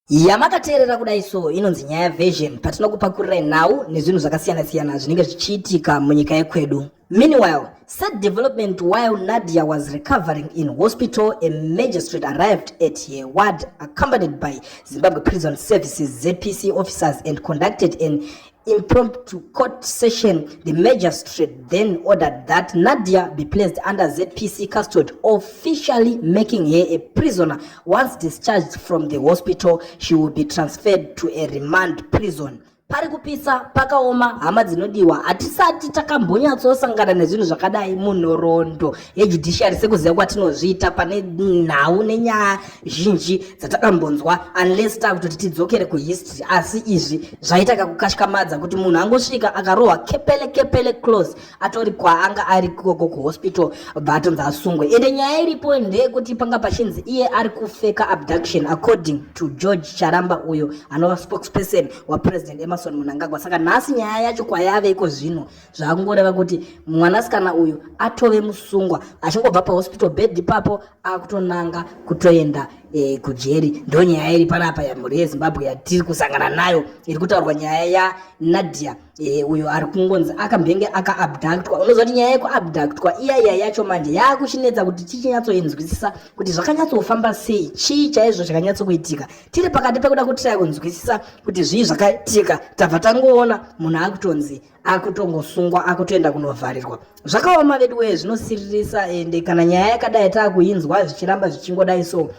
yamakateerera kudai so inonzi nyaya version patinokupakurirei nhau nezvinhu zvakasiyana siyana zvinenge zvichiitika munyika yekwedu meanwhile sad development while nadia was recovering in hospital a magistrate arrived at her ward accompanied by zimbabwe prison services zpc officers and conducted an impromptu court session, the magistrate then ordered that Nadia be placed under ZPC custody, officially making her a prisoner. Once discharged from the hospital, she will be transferred to a remand prison. pari kupisa pakaoma hama dzinodiwa hatisati takambonyatsosangana nezvinhu zvakadai munhoroondo yejudiciary sekuziva kwatinozviita pane nhau nenyaya zhinji dzatakambonzwa unless takutoti tidzokere kuhistory asi izvi zvaita kakukashkamadza kuti munhu angosvika akarohwa kepele kepele close atori kwaanga ari koko kuhospital bva atonzi asungwe ende nyaya iripo ndeyekuti panga pachinzi iye ari kufeka abduction according to george charamba uyo anova spokesperson wapresident emerson munangagwa saka nhasi nyaya yacho kwayave iko zvino zvaakungoreva kuti mwanasikana uyu atove musungwa achingobva pahospital bed ipapo akutonanga kutoenda e, kujeri ndo nyaya iri panapa yamhuri yezimbabwe yatiri kusangana nayo iri kutaurwa nyaya yanadia e, uyo ari kungonzi akambenge akaabductwa unoziva kuti nyaya yekuabductwa iya iya yacho manje yaakuchinetsa kuti tichinyatsoinzwisisa kuti zvakanyatsofamba sei chii chaizvo chakanyatsokuitika tiri pakati pekuda kutiraya kunzwisisa kuti zvii zvakaitika tabva tangoona munhu akutonzi akutongosungwa akutoenda kunovharirwa zvakaoma veduwee zvinosiririsa ende kana nyaya yakadai taakuinzwa zvichiramba zvichingodai so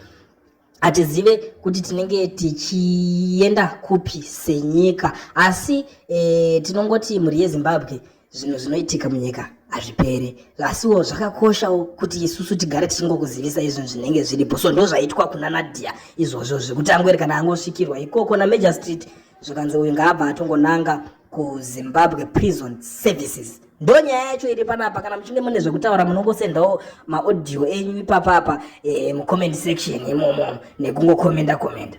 hatizive kuti tinenge tichienda kupi senyika asi e, tinongoti mhuri yezimbabwe zvinhu zvinoitika munyika hazvipere asiwo zvakakoshawo kuti isusu tigare tichingokuzivisa izvinhu zvinenge zviripo so ndo zvaitwa kuna nadia izvozvo zvekuti angweri kana angosvikirwa ikoko namajor street zvikanzi uyu ngaabva atongonanga kuzimbabwe prison services ndo nyaya yacho iri panapa kana muchinge mune zvekutaura munongosendawo maaudio enyu ipapapa e, eh, mucomment section imomo nekungokomenda komenda, komenda.